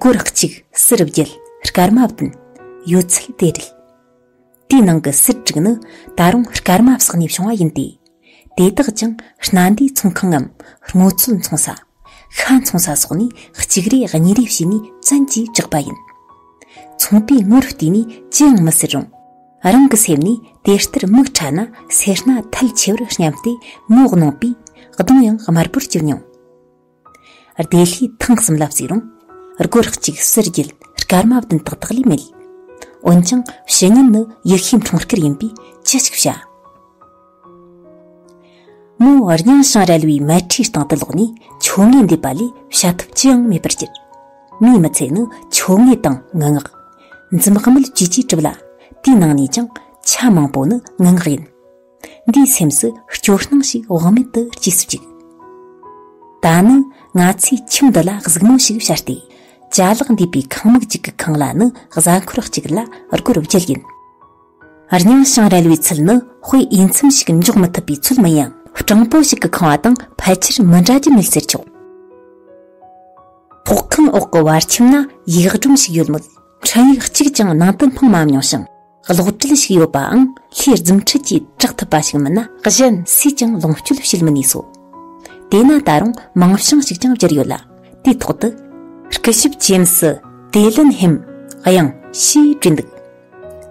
སྒོར་གཅིག་སྲི་རུ་བརྒྱད་སྐར་མ་བདུན། ཡོད་ཚད་དེ་བསྒྲིལ། དེའི་ནང་གི་སྲི་དྲུག་ནི་ད་རུང་སྐར་མ་བསགས་ནས་བྱུང་བ་ཡིན་ཏེ། དེ་དག་ཀྱང་སྣ་འདུས་ཚོང་ཁང་ངམ་སྔོ་ཚོད་འཚོང་ས། ཤ་འཚོང་ས་སོགས་ནས་གཅིག་རེ་གཉིས་རེ་བྱས་ནས་བཙན་གྱིས་བཅག་པ་ཡིན། ཚོང་པའི་དངུལ་རུ་བལྟས་ནས་ཅི་ཡང་མི་ཟེར་རུང། རང་གི་སེམས་ནས་དེ་ལྟར་མིག་ཕྲ་ན་སེར་སྣ་ཐལ་ཆེ་བར་སྙམ་སྟེ་ངོ་གནོང་པས་གདོང་ཡང་དམར་པོར་གྱུར་མྱོང། བདེ་ལྷའི་ཐང་གསུམ་ལ་བརྩིགས་རུང། སྒོ་རགས་གཅིག་གསེར་རྒྱུད་དཀར་མ་བདུན་དག་དག་ལས་མེད། འོན་ཀྱང་བཤེས་གཉེན་ནི་ཡེ་ཤེས་འཁྲུངས་སྐར་ཡིན་པས་ཅི་ཞིག་བྱ། མོ་རྙིང་ཞིང་རལ་བའི་མལ་ཁྲིའི་སྟེང་དུ་ལོག་ནས་ཆོ་ངེ་འདེབས་པ་ལས་བྱ་ཐབས་ཅི་ཡང་མེད་པར་གྱུར། མོའི་མི་ཚེ་ནི་ཆོ་ངེ་དང་ངུ་ངག། འཛུམ་དམུལ་བཅས་ཀྱིས་གྲུབ་ལ། དེའི་ནང་ནས་ཀྱང་ཆ་མང་པོ་ནི་ངུ་ངག་ཡིན། འདིའི་སེམས་སུ་སྐྱོ་སྣང་ཞིག་དབང་མེད་དུ་སྐྱེས་སུ་བཅུག། ད་ནི་ང་ཚོས་ཁྱིམ་འདི་ལ་གཟིགས་མོ་ཞིག་བྱ་སྟེ། ཅ་ལག་འདུས་པའི་ཁང་མིག་ཅིག་གི་ཁང་གླ་ནི་གཟའ་འཁོར་གཅིག་ལ་སྒོར་བརྒྱད་ཡིན། རྙིང་ཞིང་རལ་བའི་ཚུལ་ནི་དཔེ་དབྱེ་མཚམས་ཤིག་འཇོག་མི་ཐུབ་པའི་ཚོད་མིན་ཡང་སྤྲང་པོ་ཞིག་གི་ཁང་བ་དང་ཕལ་ཆེར་མི་འདྲ་རྒྱུ་མེད་ཟེར་ཆོག། ཕོག་ཁང་འོག་གི་བར་ཁྱིམ་ན་ཡིག་སྒྲོམ་ཞིག་ཡོད་མོད་འཕྲིན་ཡིག་གཅིག་ཀྱང་ནང་དུ་སྣང་མ་མྱོང་ཞིང། གློག་དྲིལ་ཞིག་ཡོད་པའང་ལྷའི་རྫུན་ཁྲིད་ཀྱིས་དྲག་ཐུབ་པ་ཞིག་མིན་ན། གཞན་སུས་ཀྱང་ལོངས་སྤྱོད་བྱེད་མི་ནུས་སོ། དེས་ན་ད་རུང་མིང་བྱང་ཞིག་ཀྱང་བསྒྱུར་ཡོད་ལ་དེའི་ཐོག་ཏུ། སྐུ་ཞབས་ཇེམ་སི་ཏེ་ལིན་ཧེམ་དབྱངས་ཞེས་བྲིས་འདུག་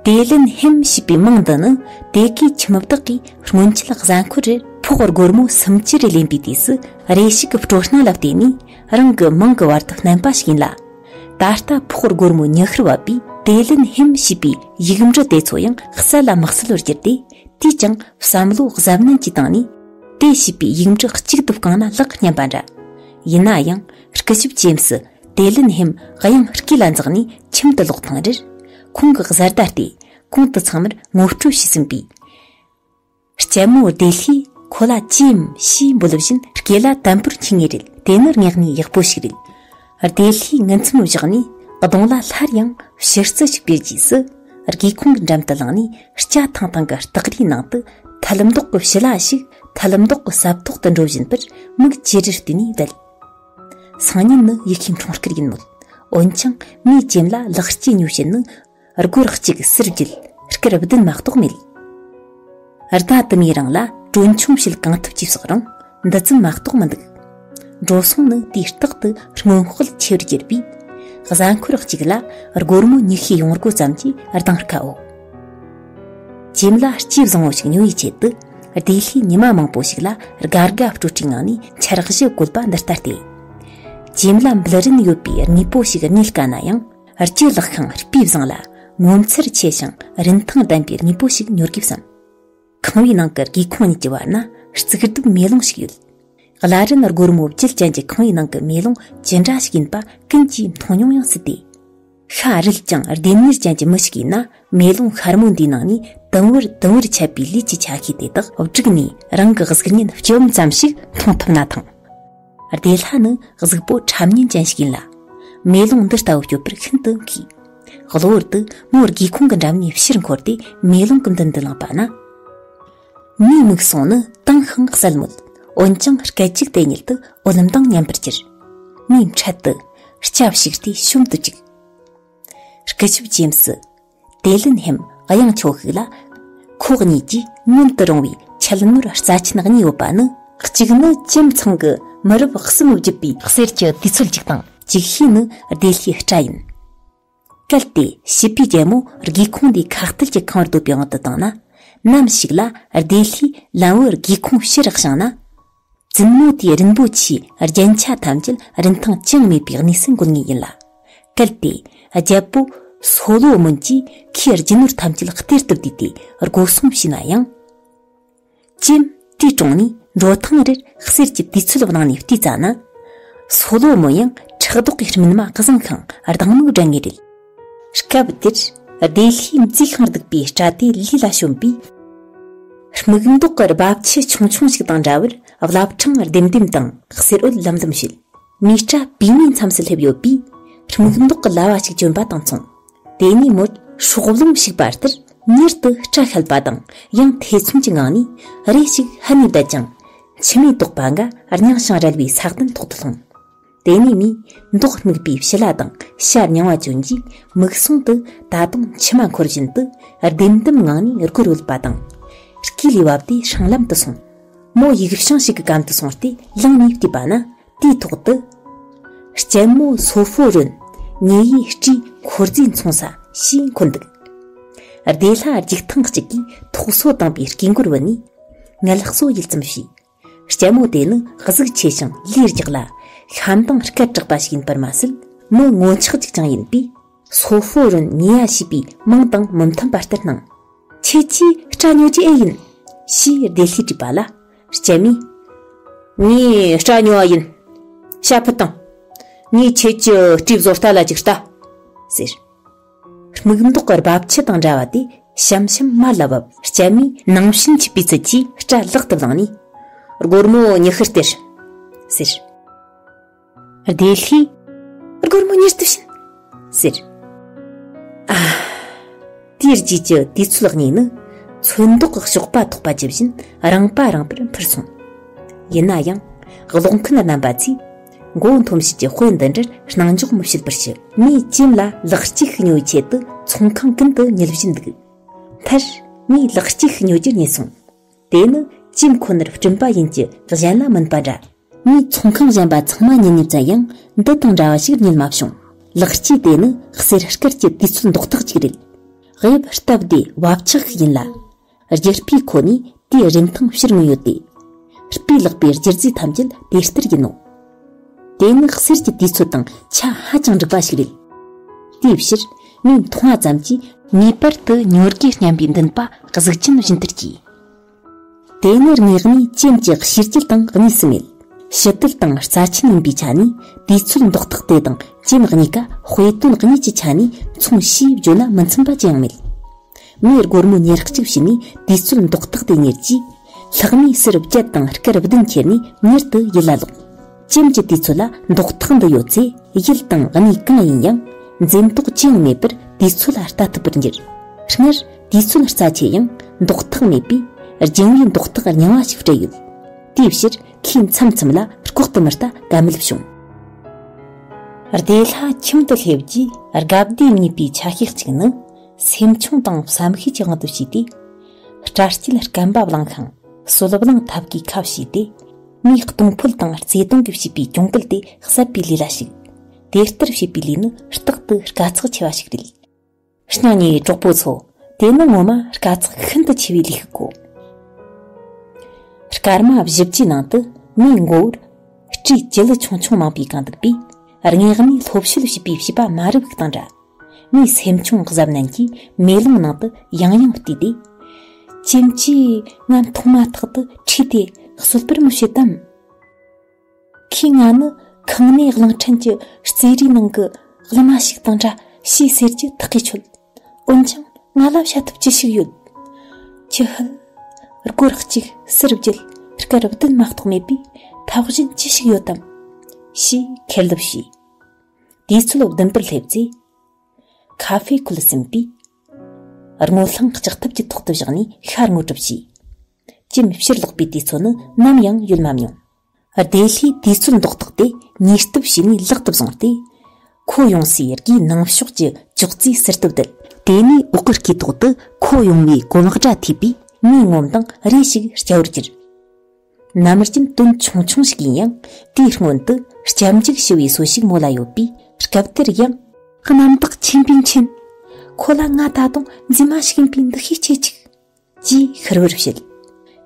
ཏེ་ལིན་ཧེམ་ཞེས་པའི་མིང་འདི་ནི་དེ་གའི་ཁྱིམ་བདག་གིས་སྔོན་ཆད་གཟའ་འཁོར་རེར་ཕོག་སྒོར་མོ་སུམ་བཅུ་རེ་ལེན་པའི་དུས་སུ་རེ་ཞིག་གི་སྤྲོ་སྣང་ལ་བརྟེན་ནས་རང་གི་མིང་གི་བར་དུ་བསྣན་པ་ཞིག་ཡིན་ལ། ད་ལྟ་ཕོག་སྒོར་མོ་ཉི་ཤུར་བབས་པའི་ཏེ་ལིན་ཧེམ་ཞེས་པའི་ཡིག་འབྲུ་དེ་ཚོ་ཡང་གསལ་ལ་མི་གསལ་བར་གྱུར་ཏེ་དེས་ཀྱང་བསམ་བློ་གཟབ་ནན་གྱིས་བཏང་ནས། དེ་ཞེས་པའི་ཡིག་འབྲུ་གཅིག་དུ་བཀང་ན་ལག་སྙམ་པ་འདྲ། ཡིན་ན་ཡང་སྐུ་ཞབས་ཇེམ་སི་ཏེ་ལིན་ཧེམ་གཡང་སྐས་ལ་འཛེགས་ནས་ཁྱིམ་དུ་ལོག་ཐེངས་རེར། ཁོང་གི་གཟར་ཟླ་སྟེ་གོང་དུ་ཚང་མར་ངོ་སྤྲོད་བྱས་ཟིན་པས། སྐྱ་མོ་བདེ་ལྷས་ཁོ་ལ་ཅིའམ་ཞེས་འབོད་ལབ་བཞིན་སྐེ་ལ་དམ་པོར་འཁྱིལ་ངེས་རེད་དེ་ནི་རྙེད་ནས་ཡག་པོ་ཞིག་རེད། བདེ་ལྷས་ངལ་འཚུམ་བཞག་ནས་གདོང་ལ་སླར་ཡང་ཕྱིར་རྩི་ཞིག་སྦས་རྗེས་སུ། སྒེའུ་ཁུང་གི་འགྲམ་དུ་ལངས་ནས་སྐྱ་ཐང་ཐང་གི་སྟག་རིའི་ནང་དུ་ཐལ་མདོག་གི་བྱི་ལ་ཞིག་ཐལ་མདོག་གི་སྲབ་ཐོག་ཏུ་འགྲོ་བཞིན་པར་མིག་ཅེ་རེར་བལྟས་ནས་བསྡད། སང་ཉིན་ནི་ཡི་གེའི་འཁྲུངས་སྐར་ཡིན་མོད། འོན་ཀྱང་མོའི་སྐྱེམས་ལ་ལག་སྐྱེས་ཉོ་བྱེད་ནི་སྒོར་གཅིག་གསེར་བརྒྱུད་སྐར་བདུན་མ་གཏོགས་མེད། རྟ་དུ་མའི་རིང་ལ་གྲོན་ཆུང་བྱེད་གང་ཐུབ་ཀྱིས་བསགས་རུང་འདི་ཙམ་མ་གཏོགས་མི་འདུག། འགྲོ་སོང་ནི་དུས་རྟག་ཏུ་སྔོན་དཔག་ཆེར་བསྒྱུར་པས། གཟའ་འཁོར་གཅིག་ལ་སྒོར་མོ་ཉི་ཤུའི་ཡོང་སྒོ་ཙམ་གྱིས་གདིང་དཀའ་འོ། ཁྱིམ་ལ་སྐྱིད་བཟང་བོ་ཞིག་ཉོ་བའི་ཆེད་དུ་བདེ་ལྷའི་ཉི་མ་མང་པོ་ཞིག་ལ་དགའ་དགའ་སྤྲོ་སྤྲོའི་ངང་ནས་འཆར་གཞི་བཀོད་པ་འདི་ལྟ་སྟེ། ཁྱིམ་ལ་འབུལ་རིན་ཡོད་པའི་དངོས་པོ་ཞིག་རྙེད་དཀའ་ན་ཡང། ལྕེ་ལག་ཤིང་སྤུས་བཟང་ལ་ངོ་མཚར་ཆེ་ཞིང་རིན་ཐང་ལྡན་པའི་དངོས་པོ་ཞིག་ཉོ་གི་བསམ། ཁང་བའི་ནང་གི་སྒེའུ་ཁུང་གཉིས་ཀྱི་བར་ན་རྩིག་རྡོའི་མེ་ལོང་ཞིག་ཡོད། གླ་རིན་སྒོར་མོ་བརྒྱད་ཅན་གྱི་ཁང་བའི་ནང་གི་མེ་ལོང་ཇི་འདྲ་ཞིག་ཡིན་པ་ཀུན་གྱིས་མཐོང་མྱོང་ཡང་སྲིད་དེ། ཤ་རུས་ཀྱང་ལྡེམ་གཉེར་ཅན་གྱི་མི་ཞིག་ཡིན་ན་མེ་ལོང་ཤར་མོ་འདིའི་ནང་ནས་དུམ་བུར་དུམ་བུར་ཆད་པའི་ལུས་ཀྱི་ཆ་ཤས་དེ་དག་བསྒྲིགས་ནས་རང་གི་གཟུགས་བརྙན་སྐྱོ་འམ་ཙམ་ཞིག་མཐོང་ཐུབ་ན་ཐང། བདེ་ལྷ་ནི་གཟུགས་པོ་ཁྲམ་གཉན་ཅན་ཞིག་ཡིན་ལ། མེ་ལོང་འདི་ལྟ་བུ་སྐྱོབ་པར་ཤིན་ཏུ་མཁས། གློ་བུར་དུ་མོ་སྒེའུ་ཁུང་གི་འགྲམ་ནས་ཕྱིར་འཁོར་ཏེ་མེ་ལོང་གི་མདུན་དུ་ལངས་པ་ན། མིའི་མིག་ཟུང་ནི་དྭངས་ཤིང་གསལ་མོད། འོན་ཀྱང་སྐད་ཅིག་དེ་ཉིད་དུ་འོད་ལམ་དང་མཉམ་པར་གྱུར། མོས་འཕྲལ་དུ། སྐྱབས་ཞིག་ལྟོས་ཤོམ་དུ་བཅུག། སྐུ་ཞབས་རྗེམས་སུ། དེ་ལུན་ཧེམ་གཡང་ཆོག་ཤིག་ལ། ཁོག་གཉིས་ཀྱིས་མངོན་དུ་རུང་བའི་ཆད་ནོར་རྩ་ཆེན་གཉིས་ཡོད་པ་ནི། གཅིག་ནི་ཁྱིམ་ཚང་གི་མི་རབས་གསུམ་བརྒྱུད་པའི་གསེར་གྱི་དུས་ཚོད་ཅིག་དང། ཅིག་ཤོས་ནི་བདེ་ལྷའི་སྤྲ་ཡིན། གལ་ཏེ་བྱིས་པའི་རྒྱལ་མོ་སྒེའུ་ཁུང་འདིའི་ཁ་གཏད་ཀྱི་ཁང་བར་སྡོད་པའི་དབང་དུ་བཏང་ན། ནམ་ཞིག་ལ་བདེ་ལྷའི་ལམ་བུའི་སྒེའུ་ཁུང་ཕྱིར་བཞེངས་ན། བཙུན་མོ་དེའི་རིན་པོ་ཆེའི་རྒྱན་ཆ་ཐམས་ཅད་རིན་ཐང་ཅང་མེད་པའི་གནས་སུ་འགོད་ངེས་ཡིན་ལ། གལ་ཏེ། རྒྱལ་པོ་སོ་ལོ་མོན་གྱིས་ཁོའི་རྒྱུ་ནོར་ཐམས་ཅད་གཏེར་དུ་བསྡུས་ཏེ་སྒོ་སྲུང་བྱས་ན་ཡང། ཅི། དེའི་དྲུང་ནས་འགྲོ་ཐེངས་རེར་གསེར་གྱི་དུས་ཚོད་བླངས་ནས་བལྟས་ཙང་ན། སོ་ལོ་མོན་ཡང་ཕྲག་དོག་གིས་སྨིན་མ་བཟང་ཤིང་སྡང་མིག་བསྒྲིལ་ངེས་རེད། སྐབས་འདིར་བདེ་ལྷའི་མཛེས་ཤིང་སྡུག་པའི་སྐྲ་དེ་ལུས་ལ་ཞོན་པས། སྨུག་མདོག་གི་རྦབ་ཆུ་ཆུང་ཆུང་ཞིག་དང་འདྲ་བར་རླབས་ཕྲེང་ལྡེམ་ལྡེམ་དང་གསེར་འོད་ལམ་ལྡིམ་བྱེད། མིའི་སྐྲ་བུས་མའི་མཚམས་སུ་སླེབས་ཡོད་པས། སྨུག་མདོག་གི་ལྭ་བ་ཞིག་གྱོན་པ་དང་མཚུངས། དེ་ནས་མོར་ཧྲོག་རླུང་ཞིག་བབས་ལྟར་མྱུར་དུ་སྐྲ་བཤལ་བ་དང་ཡང་ཐེ་ཚོམ་གྱི་ངང་ནས་རེ་ཞིག་ཧད་ནས་བསྡད་ཅིང། མཆི་མས་དོགས་པ་འགའ་རྙིང་ཞིང་རལ་བའི་ས་སྟེང་ཐོག་ཏུ་ལྷུང། དེ་ནས་ནི་མདོག་སྨུག་པའི་བྱི་ལ་དང་ཤ་མྱང་བ་བྱོན་གྱིས་མིག་ཟུང་དུ་ད་དུང་མཆི་མ་འཁོར་བཞིན་དུ་ལྡེམ་ལྡེམ་ངང་ནས་རྒུ་རུལ་པ་དང། སྐྱིད་ལས་བབས་ཏེ་ཧྲང་ལམ་དུ་སོང། མོ་ཡིག་བྱང་ཞིག་གི་གམ་དུ་སོང་སྟེ་ལངས་ནས་བལྟས་པ་ན་དེའི་ཐོག་ཏུ། སྐྱེད་མོ་སོ་ཕོ་རོན། ངེད་ཡི་སྤྲིས་འཁོར་རྫས་འཚོང་ས་ཞེས་འཁོད་འདུག། བདེ་ལྷ་འཇིགས་ཐང་གཅིག་གིས་ཐོག་སོ་དང་པའི་དཀྱིལ་འཁོར་བུད་ནས། ངལ་གསོ་ཡུལ་ཙམ་ཞིག་སྐྱ་མོ་དེ་ནི་གཟུགས་ཆེ་ཞིང་ལས་རྒྱགས་ལ་ཤམ་དང་སྐད་གྲགས་པ་ཞིག་ཡིན་པར་མ་ཟད་མི་ངོ་ཆག་ཅིག་ཀྱང་ཡིན་པས་སོ་ཧྥོ་རོན་ཉེས་ཡ་བྱས་པའི་མིང་དང་མི་མཐུན་པ་ལྟར་སྣང། ཁྱེད་ཀྱིས་སྐྲ་ཉོ་རྒྱུ་ཨེ་ཡིན། ཞེས་བདེ་ལྷས་དྲིས་པ་ལ། སྐྱ་མོས། ངས་སྐྲ་ཉོ་བ་ཡིན། ཤ་ཕུད་དང། ངས་ཁྱེད་ཀྱི་སྤྲིས་བཟོ་ལྟ་ལ་ཅིག་ལྟ། ཟེར། སྨུག་མདོག་གི་རྦབ་ཆུ་དང་འདྲ་བ་དེ་ཞིམ་ཞིམ་མར་ལ་བབས། སྐྱེད་མོས་ནང་བཞིན་གྱི་སྤུས་ཚད་ཀྱིས་སྐྲ་བསླག་ཏུ་བླངས་ནས། སྒོར་མོ་ཉི་ཤུར་སྟེར། ཟེར། བདེ་ལྷས། སྒོར་མོ་ཉེར་བསྡུ་བྱིན། ཟེར། ཨ། དེའི་རྗེས་ཀྱི་དུས་ཚོད་གཉིས་ནི། ཚོན་མདོག་གི་གཤོག་པ་ཐོགས་པ་ཇི་བཞིན་རིང་པ་རིང་པོར་འཕུར་སོང། ཡིན་ན་ཡང། གློག་མཁན་རྣམ་པ་ཚོས། མགོ་བོ་འཐོམས་བྱེད་ཀྱི་དཔེ་འདི་འདྲར་སྣང་འཇོག་མི་བྱེད་པར་ཞུ། མི་གཅེན་ལ་ལག་གཅིག་ཉོ་བའི་ཆེད་དུ་ཚོང་ཁང་ཀུན་ཏུ་ཉུལ་བཞིན་འདུག། མཐར། ངས་ལག་གཅིག་ཉོ་རྒྱུར་ཉེས་སོང། དེ་ནི་གཅེན་ཁོ་ནར་བསྐྲུན་པ་ཡིན་གྱི་གཞན་ལ་མིན་པ་འདྲ། ངས་ཚོང་ཁང་གཞན་པ་ཚང་མ་ཉུལ་ནས་བཙལ་ཡང་འདི་དང་འདྲ་བ་ཞིག་ཉུལ་མ་བྱུང། ལག་གཅིག་དེ་ནི་གསེར་སྐལ་གྱི་དུས་ཚོད་འདོགས་ཐག་ཅིག་རེད། དབྱིབས་སྟབས་བདེ་བབ་ཆགས་ཤིག་ཡིན་ལ། རྒྱུ་སྤུས་ཁོ་ནས་དེའི་རིན་ཐང་ཕྱིར་མངོན་ཡོད་དེ། སྤུས་ལེགས་པའི་སྒྱུ་རྩལ་ཐམས་ཅད་དེ་ལྟར་ཡིན་ནོ། དེ་ནི་གསེར་གྱི་དུས་ཚོད་དང་ཆ་ཧ་ཅང་འགྲིག་པ་ཞིག་རེད། དེའི་ཕྱིར་ངས་མཐོང་བ་ཙམ་གྱིས། ངེས་པར་དུ་ཉོ་དགོས་སྙམ་པའི་འདུན་པ་གཟུགས་ཅན་བཞིན་དུ་སྐྱེས། དེ་ནི་དངོས་གནས་ཅན་གྱི་ཤེས་བྱེད་དང་གཉིས་སུ་མེད། ཕྱི་དོད་དང་རྩ་ཆེན་ཡིན་པའི་ཆ་ནས་དུས་ཚོད་འདོགས་ཐག་དེ་དང་ཅན་གཉིས་ཀ་དཔེ་དོན་གཉིས་ཀྱི་ཆ་ནས་མཚུངས་ཞེས་བརྗོད་ན་མི་འཚམ་པ་ཅི་ཡང་མེད། མའི་སྒོར་མོ་ཉེར་གཅིག་བྱིན་ནས་དུས་ཚོད་མདོག་བཏགས་ཏེ་ཉལ་གྱིས། ལྷག་མའི་སེར་བརྒྱད་དང་སྐར་བདུན་ཁྱེར་ནས་མྱུར་དུ་ཡིད་ལ་ལོག། ཅེམ་གྱི་དུས་ཚོད་ལ་མདོག་བཏགས་འདི་ཡོད་ཚེ་ཡུལ་དང་གནས་གང་ཡིན་ཡང་འཛེམ་དོགས་ཅི་ཡང་མེད་པར་དུས་ཚོད་ལ་ལྟ་ཐུབ་པར་འགྱུར། སྔར་དུས་ཚོད་རྩ་ཆེ་ཡང་མདོག་བཏགས་མེད་པས་རྒྱུན་ལས་མདོག་བཏགས་རྙིང་བ་ཞིག་སྤྲད་ཡོད། དེའི་ཕྱིར་ཁོས་མཚམས་མཚམས་ལ་ལྐོག་ཏུ་མི་ལྟ་ག་མེད་བྱུང། བདེ་ལྷ་ཁྱིམ་དུ་སླེབས་རྗེས་དགའ་བདེ་གཉིས་པའི་ཆ་ཤས་གཅིག་ནི། སེམས་ཆུང་དང་བསམ་ཤེས་ཀྱི་དབང་དུ་བྱས་ཏེ། སྐྲ་སྐྱིལ་སྐམ་པ་བླངས་ཤིང་གསོལ་བླངས་ཐབས་ཀྱིས་ཁ་བྱས་ཏེ། མིའི་གཏོང་ཕོད་དང་རྩེ་གཏོང་གིས་བྱས་པའི་གྱོང་གུད་དེ་གསབ་པའི་ལས་ལ་ཞུགས། དེ་ལྟར་བྱེད་པའི་ལས་ནི་རྟག་ཏུ་དཀའ་ཚེགས་ཆེ་བ་ཞིག་རེད། གཉའ་ནས་གྲོགས་པོ་ཚོ། དེ་ནི་ངོ་མ་དཀའ་ཚེགས་ཤིན་ཏུ་ཆེ་བའི་ལས་ཤིག་གོ། སྐར་མ་བཞི་བཅུའི་ནང་དུ་མིའི་མགོ་བོར། སྤྲིའི་སྤྱི་ལེ་ཆུང་ཆུང་མང་པོས་གང་འདུག་པས། རྔེགས་ནས་ལྷོ་བཤོལ་བྱེད་པའི་བྱིས་པ་མ་རུ་བུག་དང་འདྲ། ངས་སེམས་ཆུང་གཟབ་ནན་གྱིས་མེ་ལོང་ནང་དུ་ཡང་ཡང་བལྟས་ཏེ། ཁྱིམ་གྱིས་ང་མཐོང་མ་ཐག་ཏུ་ཁྲིད་དེ་གསོད་པར་མི་བྱེད་དམ། ཁོས་ང་ནི་ཁང་ནས་གླིང་ཕྲན་གྱི་རྩེད་རའི་ནང་གི་གླུ་མ་ཞིག་དང་འདྲ་ཞེས་ཟེར་གྱི་ཐག་གིས་ཆོད། འོན་ཀྱང་ང་ལ་བྱ་ཐབས་ཅི་ཞིག་ཡོད། ཁྱི་ཧུད། སྒོ་རགས་གཅིག་གསེར་བརྒྱད་སྐར་བདུན་མ་གཏོགས་མེད་པས་ཐབས་གཞན་ཅི་ཞིག་ཡོད་དམ། ཞེས་ཁེར་ལབ་བྱས། དུས་ཚོད་བདུན་པར་སླེབས་ཚེ། ཁ་ཧྥེ་ཁུལ་ཟིན་པས། རྔོ་ལྷང་ལྕགས་ཐབ་ཀྱི་ཐོག་ཏུ་བཞག་ནས་ཤ་རྔོ་གྲུབ་བྱས། ཅིམ་ཕྱིར་ལོག་པའི་དུས་ཚོད་ནི་ནམ་ཡང་ཡོལ་མ་མྱོང། བདེ་ལྷའི་དུས་ཚོད་མདོག་བཏགས་ཏེ་ཉིས་ལྟུབ་བྱས་ནས་ལག་ཏུ་བཟུང་སྟེ། ཁོ་ཡོང་སའི་དགེའི་ནང་ཕྱོགས་ཀྱི་ཅོག་ཙེའི་ཟུར་དུ་བསྡད། དེ་ནས་འོག་གི་སྐེ་ཐོག་ཏུ་ཁོ་ཡོང་བའི་གོ་ལག་སྒྲ་ཐོས་པས་ངའི་ངོམ་དང་རེ་ཞིག་སྐྱ་བོར་གྱུར། ནམ་རྒྱུན་དོན་ཆུང་ཆུང་ཞིག་ཡིན་ཡང་དེའི་སྔོན་དུ་སྐྱབས་འཇུག་ཞུ་བའི་གསོལ་ཞིག་མོ་ལ་ཡོད་པས་སྐབས་དེར་ཡང། རྣམ་དག་ཆེན་པོའི་མཆན། ཁོ་ལ་ང་ད་དུང་རྫུན་མ་ཞིག་ཡིན་པའི་འདུ་ཤེས་སྐྱེས་ཅིག། ཅེས་ཤུར་བུར་བཤད།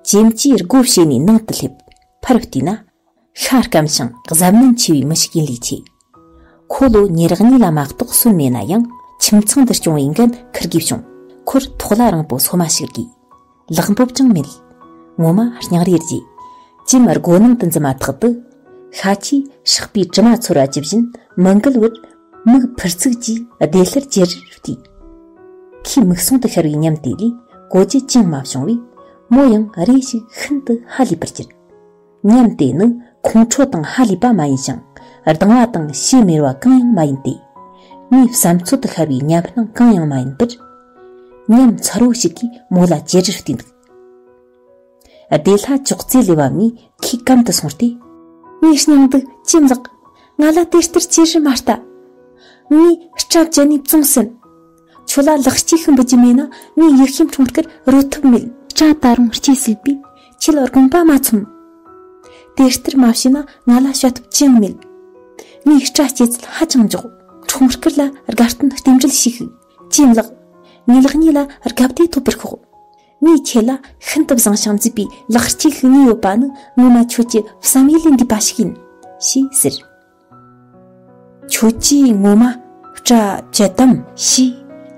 ཇེ་མཆིས་སྒོ་ཕྱེ་ནས་ནང་དུ་སླེབས། ཕར་བལྟས་ན། ཤ་སྐམ་ཞིང་གཟབ་ནན་ཆེ་བའི་མི་ཞིག་ཡིན་ལས་ཆེ། ཁོ་ལོ་ཉེ་རག་གཉིས་ལ་མ་གཏོགས་སོན་མེད་ན་ཡང་ཁྱིམ་ཚང་འདིར་སྐྱོང་བའི་འགན་འཁུར་དགོས་བྱུང། ཁོར་ཐོག་ལྭ་རིང་པོ་ཚོ་མ་ཞིག་དགོས། ལག་འབོབ་ཀྱང་མེད། ངོ་མ་རྙིང་རེ་རྗེ། ཀྱིམ་སྒོ་ནང་དུ་འཛུལ་མ་ཐག་ཏུ། ཤ་ཆེས་ཧྲག་པའི་དྲི་མ་ཚོར་བ་ཇི་བཞིན་མི་འགུལ་བར། མིག་ཕུར་ཚུགས་ཀྱིས་བདེ་སླར་ཇེ་རེར་བལྟས། ཁོའི་མིག་ཟུང་དུ་ཤར་བའི་ཉམས་དེ་ལས་གོ་རྒྱུ་ཅང་མ་བྱུང་བས། མོ་ཡང་རེ་ཞིག་ཤིན་ཏུ་ཧ་ལས་པར་གྱུར། ཉམས་དེ་ནི་ཁོང་ཁྲོ་དང་ཧ་ལས་པ་མ་ཡིན་ཞིང་སྡང་བ་དང་ཕྱེ་མེར་བ་གང་ཡང་མ་ཡིན་ཏེ། མིའི་བསམ་ཚོད་དུ་ཤར་བའི་ཉམས་སྣང་གང་ཡང་མ་ཡིན་པར། ཉམས་མཚར་བོ་ཞིག་གིས་མོ་ལ་ཇེ་དྲག་བསྟུན་འདུག། བདེ་ལྷ་ཅོག་ཙེ་ལས་བབས་ནས་ཁོའི་གམ་དུ་སོང་སྟེ། ངའི་སྙིང་སྡུག་ཅེས་ལགས། ང་ལ་དེ་ལྟར་ཅི་ཞིག་མ་ལྟ། ངའི་སྐྲ་བཅད་ནས་བཙོང་ཟིན། ཁྱོད་ལ་ལག་གཅིག་ཤིང་འབུད་རྒྱུ་མེད་ན་ངའི་ཡིད་ཤེས་ཁྲོམ་སྐར་རོལ་ཐབས་མེད། སྐྲ་ད་རུང་སྐྱེས་སྲིད་པས་ཁྱོད་ལ་དགོངས་པ་མ་ཚོམ། དེ་ལྟར་མ་བྱས་ན་ང་ལ་བྱ་ཐབས་ཅི་ཡང་མེད། ངའི་སྐྲ་སྐྱེས་ཚད་ཧ་ཅང་མགྱོགས། ཁྲོམ་སྐར་ལ་དགའ་སྟོན་རྟེན་འབྲེལ་ཞིག་ཅི་ཡང་ལགས། ངའི་ལག་གཉིས་ལ་རྒ་བརྡའི་ཐོབ་པར་ཤོག། ངས་ཁྱོད་ལ་ཤིན་ཏུ་བཟང་ཞིང་མཛེས་པའི་ལག་གཅིག་གཉིས་ཡོད་པ་ནི་ངོ་མ་ཁྱོད་ཀྱི་བསམ་ཡུལ་ལས་འདས་པ་ཞིག་ཡིན། ཞེས་ཟེར། ཁྱོད་ཀྱིས་ངོ་མ་སྐྲ་བཅད་དམ་ཞེས་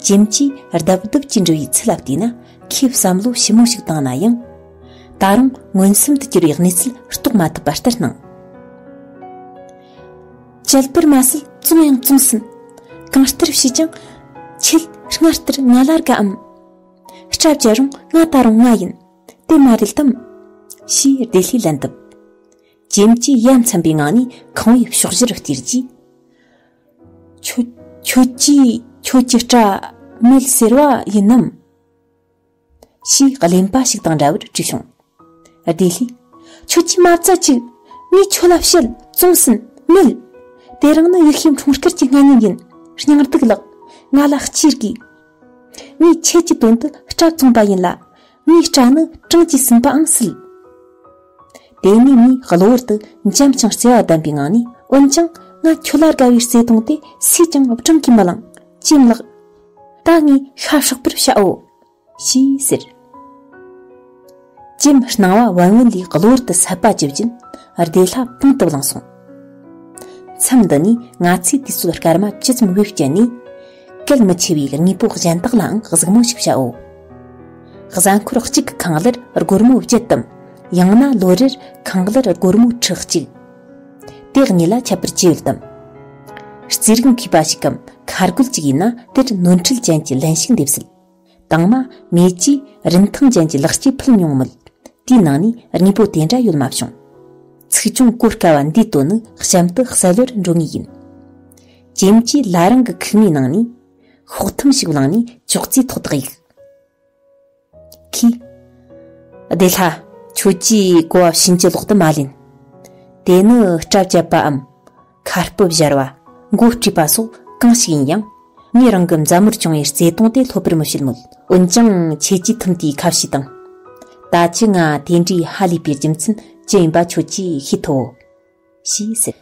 ཀྱེམ་ཀྱིས་རྡབ་རྡབ་ཀྱིས་འདྲི་བའི་ཚུལ་ལ་བལྟས་ན་ཁོས་བསམ་བློ་ཞིབ་མོ་ཞིག་བཏང་ན་ཡང། ད་རུང་མངོན་སུམ་དུ་གྱུར་བའི་གནས་ཚུལ་རྟོགས་མ་ཐུབ་པ་ལྟར་སྣང། བྱེད་པར་མ་ཟད་བཙོང་ཡང་བཙོང་ཟིན། གང་ལྟར་བྱས་ཀྱང་ཁྱོད་སྔ་ལྟར་ང་ལ་དགའ་འམ། སྐྲ་བཅད་རུང་ང་ད་རུང་ང་ཡིན་དེ་མ་རེད་དམ། ཞེས་བདེ་ལྷའི་ལན་བཏབ། ཇེམ་གཅིག་ཡ་མཚན་པའི་ངང་ནས་ཁང་བའི་ཕྱོགས་བཞི་རུ་བསྟིར་གྱིས། ཁྱོད། ཁྱོད་ཀྱིས་ཁྱོད་ཀྱི་སྐྲ་མེད་ཟེར་བ་ཡིན་ནམ། ཞེས་གླེན་པ་ཞིག་དང་འདྲ་བར་དྲིས་བྱུང། བདེ་ལྷས། ཁྱོད་ཀྱིས་མ་བཙལ་ཅིག། ངས་ཁྱོད་ལ་བཤད་བཙོང་ཟིན་མེད། དེ་རིང་ནི་ཡིག་ཤེས་འཁྲུངས་སྐར་གྱི་སྔ་ཉིན་ཡིན། སྙིང་སྡུག་ལགས། ང་ལ་སྐྱིད་དགོས། ངས་ཁྱེད་ཀྱི་དོན་དུ་སྐྲ་བཙོངས་པ་ཡིན་ལ། གཉིས་སྐྲ་ནི་གྲངས་ཀྱིས་ཟིན་པའང་སྲིད། དེ་གཉིས་ནི་གློ་བུར་དུ་འཇམ་ཞིང་བརྩེ་བ་ལྡན་པའི་ངང་ནས་འོན་ཀྱང་ང་ཁྱོད་ལ་དགའ་བའི་བརྩེ་དུང་དེ་སུས་ཀྱང་བགྲང་གིས་མི་ལང། ཅེས་བཀླགས། ད་ངས་ཤ་ཧྲག་པོར་བྱའོ། ཞེས་ཟེར། ཀྱེ་མི་སྣང་བ་བན་བོན་ལས་གློ་བུར་དུ་ཟད་པ་བཅུ་བདུན་བདེ་ལྷ་པང་དུ་བླངས་སོང། མཚམས་འདི་ནས་ང་ཚོས་དུས་ཚོད་སྐར་མ་བཅུ་ཙམ་དབུས་བསྐྱལ་ནས། གལ་མི་ཆེ་བའི་དངོས་པོ་གཞན་དག་ལའང་གཟིགས་མོ་ཞིག་བྱའོ། གཟའ་འཁོར་གཅིག་གི་ཁང་གླར་སྒོར་མོ་བརྒྱད་དམ། ཡང་ན་ལོ་རེར་ཁང་གླར་སྒོར་མོ་ཁྲི་གཅིག། དེའི་གཉིས་ལ་ཁྱད་པར་ཅི་ཡོད་དམ། རྩིས་རིག་མཁས་པ་ཞིག་གམ་ཁ་རྒོད་ཅིག་ཡིན་ན་དེར་ནོར་འཁྲུལ་ཅན་གྱི་ལན་ཞིག་འདེབས་སྲིད། དང་མ་མེ་ཅི་རིན་ཐང་ཅན་གྱི་ལག་སྐྱེས་ཕུལ་མྱོང་མོད། དེའི་ནང་ནས་དངོས་པོ་དེ་འདྲ་ཡོད་མ་བྱུང། ཚིག་ཅུང་གོ་དཀའ་བ་འདིའི་དོན་ནི་གཤམ་དུ་གསལ་བོར་འགྲོ་ངེས་ཡིན། ཇེ་མ་ཇི་ལ་རང་གི་ཁུག་མའི་ནང་ནས། ཤོག་ཐུམ་ཞིག་བླངས་ནས་ཅོག་ཙེའི་ཐོག་ཏུ་གཡུགས། ཁོས། བདེ་ལྷ། ཁྱོད་ཀྱིས་གོ་བ་བྱིན་གྱིས་ལོག་ཏུ་མ་ལེན། དེ་ནི་སྐྲ་བཅད་པའམ། ཁ་སྤུ་བཞར་བ། མགོ་དཀྲུས་པ་སོགས་གང་ཞིག་ཡིན་ཡང། ངས་རང་གི་མཛའ་མོར་བྱུང་བའི་བརྩེ་དུང་དེ་ལྷོད་པོར་མི་བྱེད་མོད། འོན་ཀྱང་ཁྱེད་ཀྱིས་ཐུམ་དེའི་ཁ་བྱེ་དང། ད་ཅི་ང་དེ་འདྲའི་ཧ་ལས་པའི་རྒྱུ་མཚན་ཅི་ཡིན་པ་ཁྱོད་ཀྱིས་ཤེས་ཐུབ་བོ། ཞེས་ཟེར།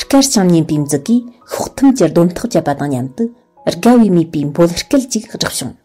སྐར་བྱང་སྙན་པའི་མཛུ་གིས་ཤོག་ཐུམ་གྱི་སྡོམ་ཐག་བཅད་པ་དང་མཉམ་དུ། དགའ་བའི་མོས་པའི་འབོལ་སྐལ་ཅིག་བསྒྲགས་བྱུང།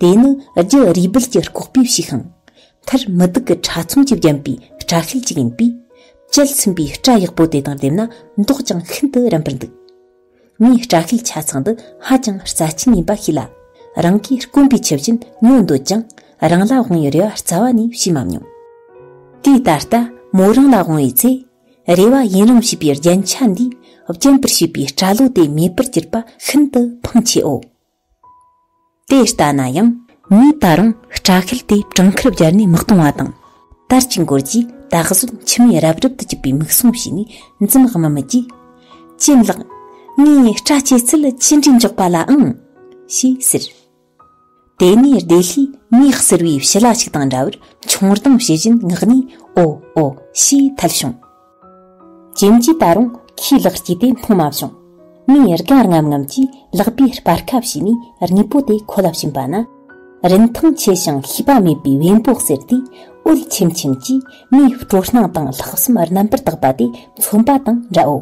དེ་ནི་རྒྱུ་རུས་སྦལ་གྱི་ལྐོག་པའི་བྱེ་ཤིང། མཐར་མི་སྡུག་གི་ཕྲ་ཚོམ་གྱིས་བརྒྱན་པའི་སྐྲ་ཤེལ་ཅིག་ཡིན་པས། དཔྱད་ཚིམ་པའི་སྐྲ་ཡག་པོ་དེ་དང་བསྡེབས་ན་མདོག་ཀྱང་ཤིན་ཏུ་རན་པར་འདུག། ངས་སྐྲ་ཤེལ་ཆ་ཚང་འདི་ཧ་ཅང་རྩ་ཆེན་ཡིན་པ་ཤེས་ལ། རང་གིས་དཀོན་པའི་ཆུ་བཞིན་ཉོ་འདོད་ཀྱང་རང་ལ་དབང་བའི་རེ་བ་རྩ་བ་ནས་བྱས་མ་མྱོང། དེས་ད་ལྟ་མོ་རང་ལ་དབང་བའི་ཚེ། རེ་བ་ཡིན་རུང་བྱིས་པའི་རྒྱན་ཆ་འདིས་བརྒྱན་པར་བྱས་པའི་སྐྲ་ལོ་དེ་མེད་པར་གྱུར་པ་ཤིན་ཏུ་ཕངས་ཆེའོ། དེ་ལྟ་ན་ཡང་ངས་ད་རུང་སྐྲ་ཤད་དེ་བྲང་ཁར་བརྒྱར་ནས་མི་གཏོང་བ་དང། དར་གྱི་མགོར་གྱིས་ད་གཟོད་མཆི་མས་རབ་རབ་ཏུ་བཅུས་པའི་མིག་ཟུང་ཞིག་ནས་འཛུམ་དམུལ་དམུལ་གྱིས། གྱེན་ལགས། ངའི་སྐྲ་སྐྱེས་ཚད་ཅི་འདྲའི་མགྱོགས་པ་ལ་ཨང། ཞེས་ཟེར། དེ་ནས་བདེ་ལྷའི་མིག་གསེར་བའི་བྱི་ལ་ཞིག་དང་འདྲ་བར་མཆོང་སྡང་བྱེད་བཞིན་ངག་ནས་ཨོ་ཨོ་ཞེས་ཐལ་བྱུང། ཁྱིམ་གྱིས་ད་རུང་ཁས་ལག་བསྐྱིས་ཏེ་སྨྲོ་མ་བྱུང། མོས་དགའ་རྔམ་རྔམ་གྱིས་ལག་པས་སྤར་ཁ་བྱས་ནས་རྔུལ་པོ་དེ་ཁོ་ལ་བྱིན་པ་ན། རིན་ཐང་ཆེ་ཞིང་ཤེས་པ་མེད་པའི་བེམ་པོ་གསེར་དེ་འོད་ཆེམ་ཆེམ་གྱིས་མོའི་སྤྲོ་སྣང་དང་ལྷག་བསམ་རྣམ་པར་དག་པ་དེ་མཚོན་པ་དང་འདྲའོ།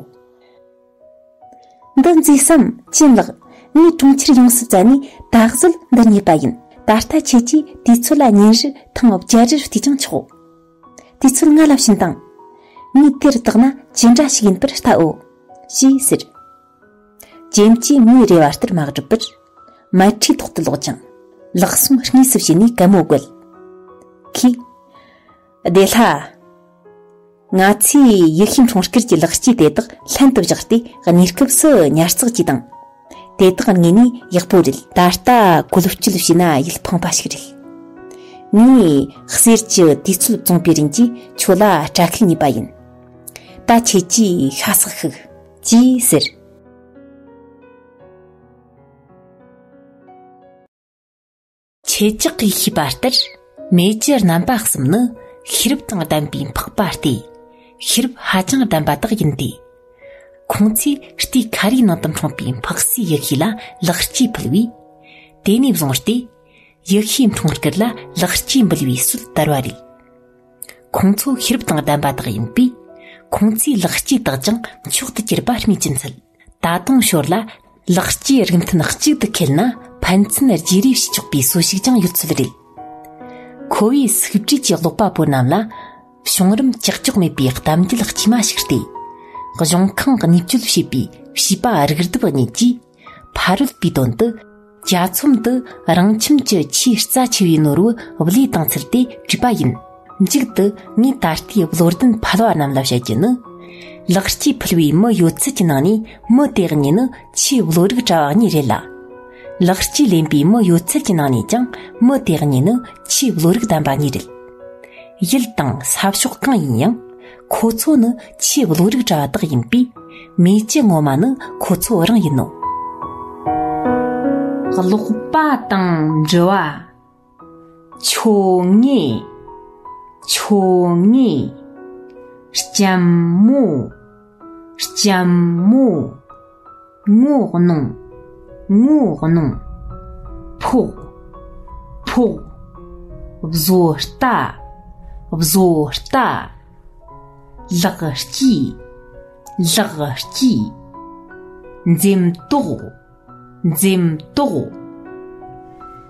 འདི་མཛེས་སམ་གྱེན་ལགས། ངའི་གྲོང་ཁྱེར་ཡོངས་སུ་བཙལ་ནས་ད་གཟོད་འདི་རྙེད་པ་ཡིན། ད་ལྟ་ཁྱེད་ཀྱིས་དུས་ཚོད་ལ་ཉིན་རེར་ཐེངས་བརྒྱད་རེར་བལྟས་ཀྱང་ཆོག། དུས་ཚོད་སྔ་ལབ་བཞིན་དང། མི་དེར་བརྟགས་ན་ཇི་འདྲ་ཞིག་ཡིན་པར་བལྟའོ། ཞེས་ཟེར། རྒྱན་གྱིས་མིའི་རེ་བ་ལྟར་མ་བསྒྲུབས་པར། མལ་ཁྲིའི་ཐོག་ཏུ་ལོག་ཅིང། ལག་ཟུང་གཉིས་སུ་བྱས་ནས་སྐད་མོ་བཀོལ། ཁྱི། བདེ་ལྷ། ང་ཚོས་ཡུལ་ཤུལ་འཕྲོང་སྐུར་གྱི་ལག་སྐྱེས་དེ་དག་ལྷན་དུ་བཞག་སྟེ་གནས་སྐབས་སུ་ཉར་ཚགས་ཀྱིས་དང། དེ་དག་ངས་ནི་ཡག་པོ་རེད་ད་ལྟ་བཀོལ་སྤྱོད་བྱས་ན་ཡིད་ཕངས་པ་ཞིག་རེད། ངས་གསེར་གྱི་དུས་ཚོད་བཙོངས་པའི་རིན་གྱིས་ཁྱོད་ལ་སྐྲ་ཁུག་ཉོས་པ་ཡིན། ད་ཁྱེད་ཀྱིས་ཤ་སག་ཤུག། ཅེས་ཟེར། ཁྱེད་ཅག་གིས་ཤེས་པ་ལྟར་མེ་ལྕེ་རྣམ་པ་གསུམ་ནི་ཤེས་རབ་དང་ལྡན་པའི་འཕགས་པ་སྟེ། ཤེས་རབ་ཧ་ཅང་ལྡན་པ་དག་ཡིན་ཏེ། ཁོང་ཚོས་རྟའི་ཁ་རིའི་ནང་དུ་འཁྲུངས་པའི་འཕགས་སའི་ཡེ་ཤེས་ལ་ལེགས་སྐྱེས་ཕུལ་བས། དེ་ནས་བཟུང་སྟེ། ཡེ་ཤེས་འཁྲུངས་སྐར་ལ་ལེགས་སྐྱེས་འབུལ་བའི་སྲོལ་དར་བ་རེད། ཁོང་ཚོ་ཤེས་རབ་དང་ལྡན་པ་དག་ཡིན་པས། ཁོང་ཚོའི་ལེགས་སྐྱེས་དག་ཀྱང་མཆོག་ཏུ་གྱུར་པ་སྨོས་ཅི་འཚལ། ད་དུང་ཞོར་ལ་ལག་སྐྱེས་རིགས་མཐུན་གཅིག་ཏུ་འཁེལ་ན་ཕན་ཚུན་བརྗེ་རེས་བྱེད་ཆོག་པའི་གསོལ་ཤུགས་ཀྱང་ཡོད་ཚོད་རེད། ཁོ་བོས་སུག་བྲིས་ཀྱི་ཀློག་པ་པོ་རྣམས་ལ་བྱུང་རིམ་ཀྱག་ཀྱོག་མེད་པའི་གཏམ་རྒྱུད་དཀྱུས་མ་ཞིག་སྟེ། གཞུང་ཁང་གཉིས་སྤྱོད་བྱེད་པའི་བྱིས་པ་རིགས་བདུན་པ་གཉིས་ཀྱིས་ཕ་རོལ་པོའི་དོན་དུ། གྱ་ཚོམ་དུ་རང་ཁྱིམ་གྱི་ཆེས་རྩ་ཆེ་བའི་ནོར་བུ་བློས་བཏང་ཚུལ་དེ་བྲིས་པ་ཡིན། མཇུག་ཏུ་ངས་ད་ལྟའི་བློ་ལྡན་ཕལ་བ་རྣམས་ལ་བཤད་རྒྱུ་ནི། ལག་སྐྱེས་ཕུལ་བའི་མི་ཡོད་ཚད་ཀྱི་ནང་ནས་མི་དེ་གཉིས་ནི་ཆེས་བློ་རིག་བཀྲ་བ་གཉིས་རེད་ལ། ལག་སྐྱེས་ལེན་པའི་མི་ཡོད་ཚད་ཀྱི་ནང་ནས་ཀྱང་མི་དེ་གཉིས་ནི་ཆེས་བློ་རིག་ལྡན་པ་གཉིས་རེད། ཡུལ་དང་ས་ཕྱོགས་གང་ཡིན་ཡང། ཁོ་ཚོ་ནི་ཆེས་བློ་རིག་གྲྭ་དག་ཡིན་པས་མེ་ལྕེ་སྔོན་མ་ནི་ཁོ་ཚོ་རང་ཡིན་ནོ། ཀློག་པ་དང་འབྲི་བ། ཆོ་ངེ། ཆོ་ངེ། སྐྱམ་མོ། སྐྱམ་མོ། ངོ་གནོང། ངོ་གནོང། ཕོག། ཕོག། བཟོ་ལྟ། བཟོ་ལྟ། ལག་སྐྱིས། ལག་སྐྱིས། འཛེམ་དོགས། འཛེམ་དོགས།